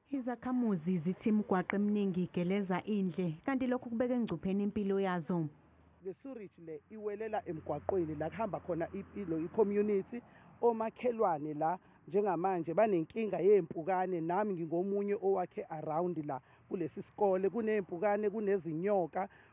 Izakhamuzi zithi imigwaqo eminingi igeleza indle kanti lokhu kubeka engcupheni impilo yazo. Le surage le iwelela emgwaqweni la kuhamba khona ilo i-community omakhelwane la njengamanje banenkinga yey'mpukane nami ngingomunye owakhe around la kulesi sikole kuney'mpukane kunezinyoka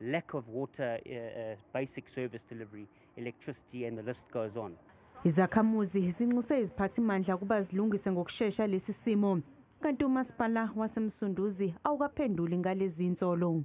lack of water, uh, uh, basic service delivery, electricity, and the list goes on. Izakhamuzi zinxuse iziphathimandla ukuba zilungise ngokushesha lesi simo kanti umasipala wasemsunduzi awukaphenduli ngalezi nsolo